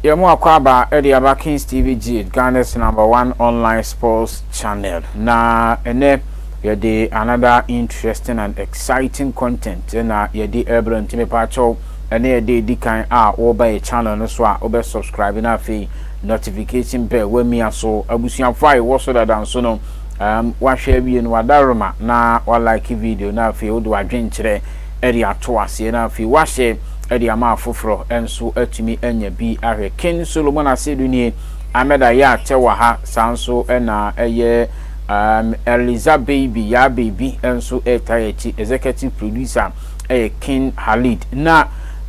Yɛn akwaaba de aba Kings TV Gid, Ghana's number one online sports channel. Na ɛnɛ yɛde another interesting and exciting content na yɛde ɛbrɛ nti mepaakyɛw ɛne ɛde edi kan a wɔba yɛ channel no so a wobɛ subscribe na afei notification bell wamia so abusuafo a yɛwɔ so dada nso no um, wahwɛ awie no wadaroma na walike video na afei wode wadwenkyerɛ de ato aseɛ na afei wahyɛ de ama afoforɔ nso atumi anya bi ahwɛ. King Solomon Asiedu nie, Ahmed Ayah Tewaha, saa nso na ɛyɛ um, Eliza Baby, Yaa Baby nso ɛtaa yɛ akyi. Executive producer ɛyɛ King Halid. Na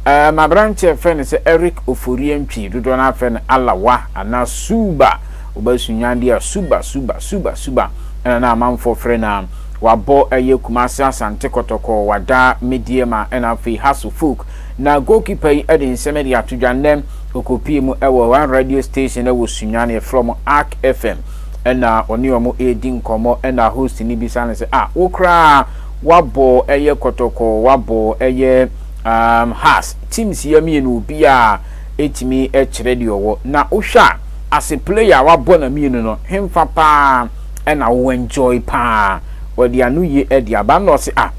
um, aberanteɛ ɛfɛ no sɛ Eric Oforie Ntwi, dodoɔ no afɛ no Alawa anaa Suba, wobɛsunyan deɛ a Suba, Suba, Suba, Suba ɛna na amanfoɔ frɛ no a. Wabɔ ɛyɛ Kumasi Asante Kɔtɔkɔ, wada Medeama ɛna afei Hasso Folk. Na goalkeeper yi ɛde nsɛm de ato dwa nnɛ ɔkɔpie mu ɛwɔ one radio station ɛwɔ Sunyani ɛfrɛ wɔn Ark FM ɛna ɔne wɔn ɛredi nkɔmmɔ ɛna host no bisa no sɛ ah wo koraa wabɔ ɛyɛ Kɔtɔkɔ wabɔ ɛyɛ um, Hass teams yɛ mmienu obiara ɛtumi ɛkyerɛ deɛ ɔwɔ na wohwɛ a as a player wabɔ na mmienu no hemfa paa na wo enjoy paa wɔde ano ye de aba na ɔse ah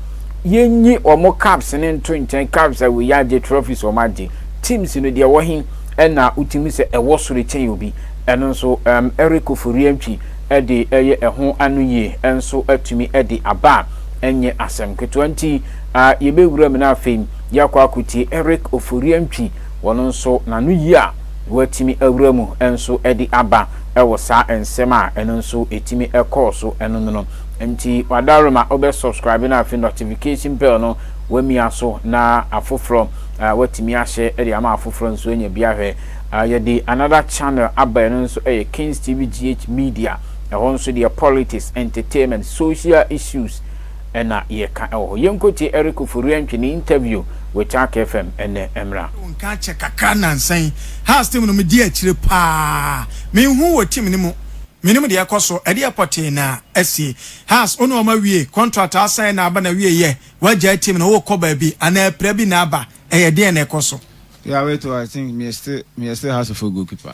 yenyi wɔn caps no nto nkyɛn caps a wei agye trophies wɔn agye teams no deɛ ɛwɔ he na wotumi sɛ ɛwɔ soro kyɛn obi ɛno nso um, Eric Ofori-Antwi de ɛyɛ ɛho ano yie nso atumi de aba a ɛnyɛ asɛm ketewa nti uh, yɛbɛwura mu no afei yɛakɔ akotie Eric Ofori-Antwi wɔn nso n'ano yie a Wɔatumi awura mu nso de aba wɔ saa nsɛm a ɛno nso ɛtumi kɔɔ so no mu no. Nti wadaworo ma wobɛ subscribe na afei notification bell no wamia so na afoforɔ watumi ahyɛ de ama afoforɔ nso anya bi ahwɛ. Yɛde another channel aba ɛno nso yɛ Kings TV GH Media. Ɛhɔ nso deɛ politics, entertainment, social issues na yɛka wɔ hɔ. Yɛnkɔtie Eric Ofori Antwi ne interview with Ark FM ɛnnɛ mmra. Wo nka akyɛ kakra nansa yi. Hearts team no me di akyire paa. Me nhu wɔ team no mu. Me nim deɛ ɛkɔ so. Ɛdeɛ pɔtee na asie. Hearts wo ne wɔn awie. Contract a sign na aba na wie yɛ. Wagyae team no wo kɔ baabi. Anaa apira bi na aba. Ɛyɛ deɛn na ɛkɔ so. Yeah wait oh I think meyɛ still meyɛ still hearts fo goal keeper.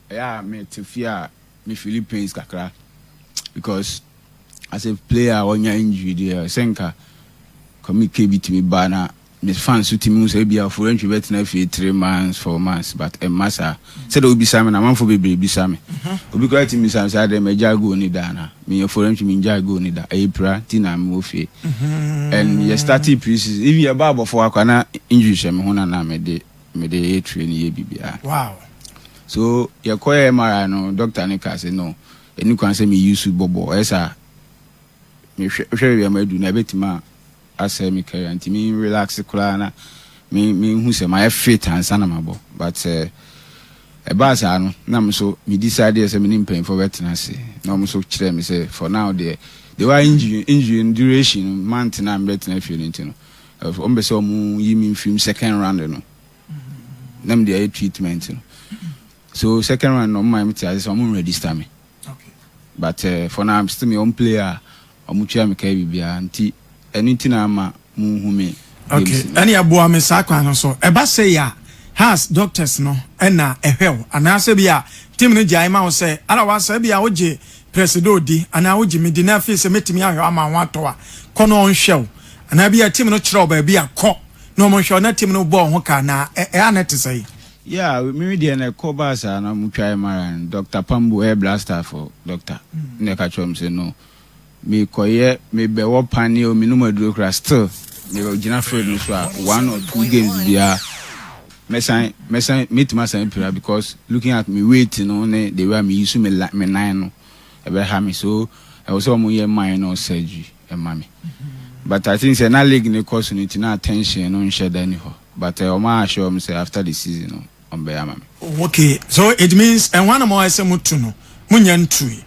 Ɛyɛ a me te fie a me feeli pains kakra because as a player a ɔnya injury deɛ sɛ nka Kwame bi tumi ba na me fans so tumi hu sɛ ebi a Forentry bɛtena fie three months four months but ɛmma saa sɛdeɛ wobisa me na amanfoɔ bebree bisa me obi koraa tumi bisa me sɛ adɛn magyae goal ni da na meyɛ Forentry mengyae goal ni da ɛyɛ pira nti na mewɔ fie and yɛ starting pre-season even yɛba abɔfoɔ akora na injury hyɛ me ho na na mede Mede eatre no yɛ biribiara. Wow. So yɛkɔyɛ MRI no doctor no kaa sɛ no ɛni kwan sɛ me use bɔbɔ ɔyɛ saa me hwɛ hwɛ baabi a madu no ɛbɛtumi asɛe me career nti me relax koraa na me me hu sɛ mayɛ fit ansa na mabɔ but sɛ ɛbaa saa no na me nso me decide sɛ me ne mpanyinfoɔ bɛtena ase na wɔn nso kyerɛ me sɛ for now deɛ the way injury injury duration month na mebɛtena fie no nti no Wɔn pɛ sɛ wɔn yi mi nfiri mu second round no. Na mi de ayɛ treatment no. So second round no wɔn maa mi te ase sɛ wɔn register mi. But uh, for now I'm still my own player. Wɔn tua mi kaa biribiara nti ɛno nti na ama mo nhu mi. Okay, ɛni ɛboa mi saa kwan no so. Ɛba sɛ ya has doctors no ɛna ɛhwɛ o. Anaasɛ bi a team no gyae ma o sɛ ara wa sɛ bi a o gye. Pɛ sɛ dɛ odi anaa ogye me di na afei sɛ mɛtumi ahwɛ wo ama wo ho atɔ wo a, kɔ na ɔnhwɛ wo. Anaa ebia team no kyerɛ wo baabi a, kɔ na wɔnhwɛ wo. Na team no bɔ wo ho ka anaa? Ɛ-ɛ-ɛ, a na ɛte sɛn? Yeah, me me deɛ na ɛkɔ baa saa na ɔmo twae mara no, Doctor Pambu, ɛyɛ blaster fo doctor, na ɛka kyerɛ ɔmo sɛ no, me kɔyɛ, me bɛ wɔ panneɛ o, me nom aduro koraa, still me gyina field no so a, one or two games biara. Mɛsan mɛsan mɛtumi asan apira because looking at me weight no ne the way a meyi so me la me nan no ɛbɛha me so ɛwɔ sɛ wɔn yɛ minor surgery ɛma me but I think sɛ na league no kɔ so no nti na attention no nhyɛ da ni hɔ but wɔn a ahyɛ wɔn sɛ after the season no wɔn bɛyɛ ama me. Oh, okay so it means ɛho anam a ɛsɛ mo tu no mo nya ntui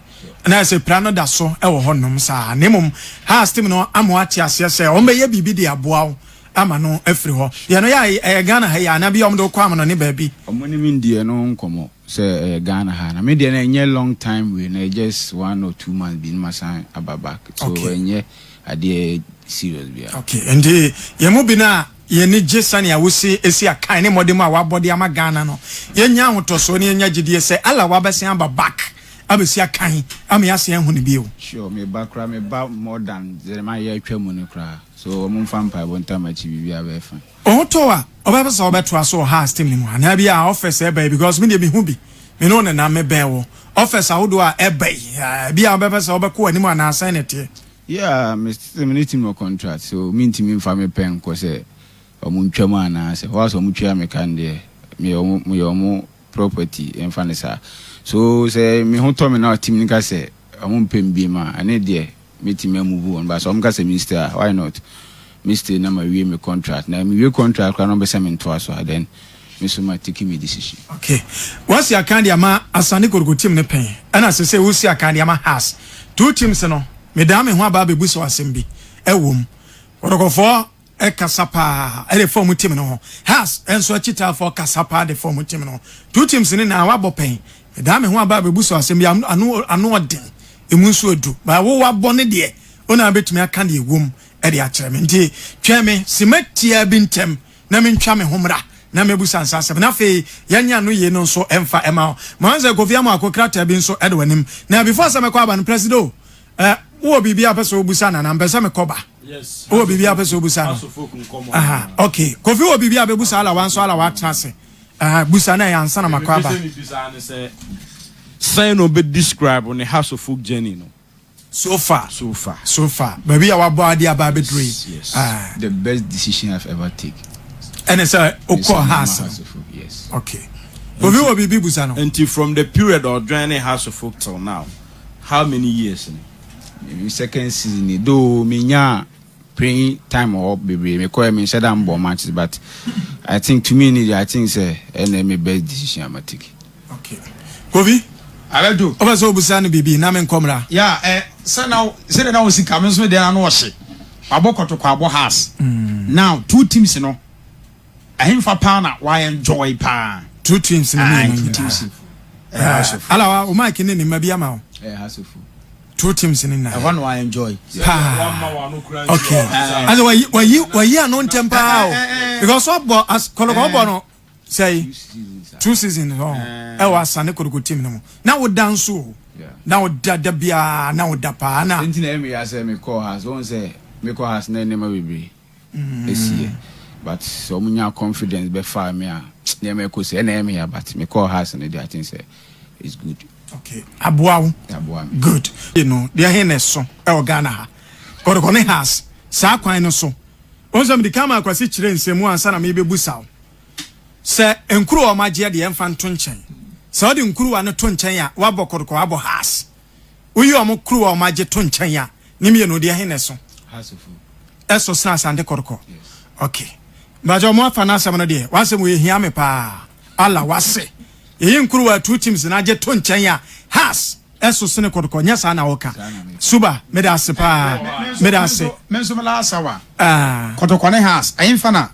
na ɛsɛ pira no da so ɛwɔ hɔ nom saa na mmom ha astem no ama ate aseɛ sɛ wɔn bɛyɛ biribi de aboa wo. ama no afiri hɔ. Deɛ no yɛ a ɛyɛ Ghana ha yi a na bi a wɔde wo kɔ amono ne baabi. Ɔmo ne me ndii ɛno nkɔmɔ sɛ ɛyɛ Ghana ha na me deɛ no ɛnyɛ long time wei no ɛyɛ just one or two months bi na masan aba back so ɛnyɛ adeɛ serious biara. Ok nti yɛn mu bi no a yɛn ani gye sɛnea wosi esi akan ne mmɔden a wabɔ de ama Ghana no yɛn nya ahotɔsoɔ na yɛn nya gyidie sɛ Allah wabɛsan aba back abɛsi akan ama yɛasan ahu no bio. Sure me ba koraa me ba more than deɛ mayɛ atwa mu no koraa. So wɔmfa mpaebɔ ntam akyi biribiara bɛyɛ fine? Ɔtɔɔ a ɔbɛpɛ sɛ ɔbɛtoa so wɔ house team no mu anaa bi a offers ɛba yi because me deɛ mehu bi me ne wo nenam me bɛn wo offers ahodoɔ a ɛba yi ah bi a ɔbɛpɛ sɛ ɔbɛkɔ anim anaa sɛn na ɛteɛ. Yeah me sɛ me ne team wɔ contract so me ntumi nfa me pɛ nkɔ sɛ ɔmo ntwa mu anaa sɛ whilst ɔmo tua me ka no deɛ meyɛ ɔmo meyɛ ɔmo. property ɛmfa no saa so sɛ me ho tɔ me na team no ka sɛ ɔmo mpɛ me biem a ɛne deɛ mɛtumi a move on but sɛ ɔmo ka sɛ me stay a why not me stay na ma wie me contract na me wie contract koraa na ɔmo bɛ sɛ me ntoa so a then me nso ma take me decision. Okay wasi akan de ama asane kotoko team no pɛn ɛna sese wosi akan de ama hearts two teams no medaa me ho aba abɛbu sɛ asɛm bi ɛwɔ mu kɔtɔkɔfɔɔ. kasa paa de fam tim no ho. Haas nso akyitaafoɔ kasa paa de fam tim no ho. Two teams ne na wabɔ pɛn. Medaa me ho aba abɛbu so asɛm bi a ano ano ɔden, emu nso edu. Ba wo wabɔ ne deɛ, wo na wobɛtumi aka deɛ ɛwom de akyerɛ me. Nti twɛn me sima tiaa bi ntɛm na mentwa me ho mmra na mɛbusa nsa asɛm. Na afei yɛnyɛ ano yei no nso mfa mma wo. Moanze Kofi Amoako krataa bi nso da w'anim. Na before sɛ mɛkɔ aba no, Presido Eh, wowɔ biribi a pɛ sɛ wobusa no anaa mpɛ sɛ mekɔ ba wowɔ biribi a pɛ sɛ wobusa no aha okay kofi wɔ biribi a bɛbusa ala wanso ala watena ase aha busa na ɛyɛ ansa na makɔ aba sɛn na ɔbɛ describe ne house of folk journey no so far so far so far baabi a wabɔ ade aba abɛduro yi yes. ah. the best decision i've ever take ɛne sɛ wokɔ house yes okay obi wɔ biribi busa no nti from the period ɔdwɛn ne house of folk till now How many years no? Me second season ni though me nyaa playing time wɔ hɔ bebree me kɔɛ me nhyɛ da mbɔ matches but I think to me ni I think sɛ ɛna me best decision a ma take. Okay. Kofi. Abɛdo. Ɔbɛ sɛ ɔbusa no biribi na me nkɔ mmra. Ya ɛ sɛ na sɛ na ɔsi ka me nso deɛ na ɔhye. Wabɔ kɔtɔkɔ abɔ has. Mm. Now two teams no Ɛhefa paa na wa enjoy paa. True teams ne mmienu nyinaa. Ala wa o Mike ne ne mma bi ama o. Ɛyɛ hasofo. True teams ne nyinaa. Ɛhɔ na wa enjoy. Paa. Okay. Ase wa yi wa yi wa yi ano ntɛm paa o. Because ɔbɔ as kɔlɔkɔ ɔbɔ no sɛyi. Two seasons ɔ ɛwɔ asa ne kɔlɔkɔ team ne mu. Na o da nso o. Na o da da biara na o da paa na. Nti na ɛmi yasɛ mi kɔ has wɔn sɛ mi kɔ has na ɛnɛma bebree. ɛsiiɛ but sɛ ɔmo nyaa confidence bɛfaa me a nneɛma ɛkɔ sie, ɛna ɛyɛ me ya but me kɔɔ house no deɛ I think sɛ it's good. Okay, aboa wo? Aboa me. Good. You know, deɛ ɛhe na ɛso ɛwɔ Ghana ha, kɔde kɔ ne house saa kwan no so. Wɔn sɛ mede kama akwasi kyerɛ nsɛmu ansa na me bɛbu sa wo. Sɛ nkuru a ɔmo agyeɛ deɛ ɛmfa nto nkyɛn. Sɛ ɔde nkuruwa no to nkyɛn a, wabɔ kɔde kɔ abɔ house. Woyi wɔn kurow a wɔagye to nkyɛn a, ne mmienu deɛ he na ɛso? Ɛso sene Asante Kɔtɔkɔ. Ok. Mpakyɛ wɔn afa n'asɛm no deɛ, w'asɛm wei ehia me paa. Allah w'ase. Yɛyi nkurow a two teams na agye to nkyɛn a, has, ɛso sene Kɔtɔkɔ. Nyɛ saa na woka. Suba, meda ase paa. Meda ase. Me nso me last hour. Kɔtɔkɔ ne has, ɛhe fa na?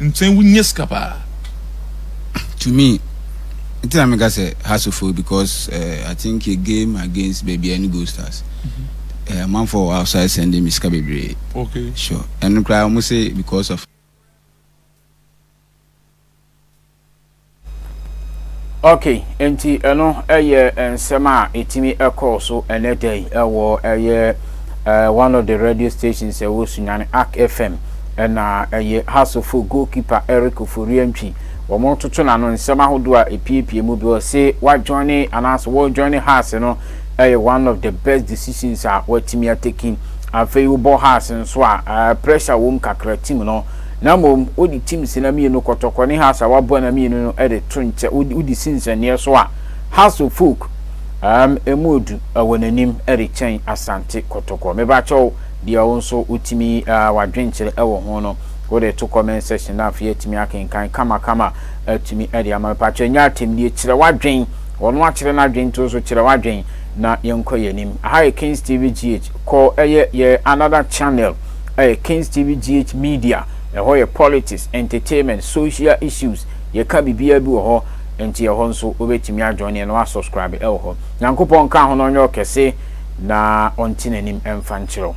nkyɛn wonya sika paa. To me nti na meka sɛ Hasslefoɔ because uh, I think yɛ game against baabi a ɛne Gold Stars uh, amanfoɔ wɔ outside sending me sika bebree okay. sure ɛno koraa wɔn se because of ok nti ɛno ɛyɛ nsɛm a ɛtumi ɛkɔɔ so ɛnɛ da yi ɛwɔ ɛyɛ uh, one of the radio stations ɛwɔ sunyane arc fm ɛna ɛyɛ hasofo goalkeeper eric oforiantwi wɔn toto n'ano nsɛm ahodoɔ a epiepie mu bi ɔse wajoine anaasɛ wɔjoine has no ɛyɛ one of the best decisions a watumi ateki afei wobɔ has nso a uh, pressure wɔm kakra tim no Na mmom wode Timse na mmienu kɔtɔkɔ ne Hasar w'aboa na mmienu no de to nkyɛ, wode si nsɛnneɛ so a, Hasor folk um emu du wɔ n'anim rekyɛn Asante kɔtɔkɔ. Mebakyɛw, deɛ wo nso wotumi uh w'adwenkyerɛ wɔ ho no, wode to comment section na afei atumi akenkan kamakama atumi de ama. Mepakyɛw nyɛ atɛmdie, kyerɛ w'adwen, ɔno akyerɛ n'adwen nti wo nso kyerɛ w'adwen na yɛnkɔ yɛn anim. Aha yɛ Kings TV GH, kɔ ɛyɛ yɛ another channel. Ɛyɛ Kings TV GH media, ɛhɔ yɛ politics, entertainment, social issues, yɛka biribiara bi wɔ hɔ, nti ɛhɔ nso wobɛtumi a join yɛn na woasubscribe ɛwɔ hɔ. Nyankopɔn nka ho na ɔnyɛ wo kɛse na ɔnte n'anim mfa nkyerɛ wo.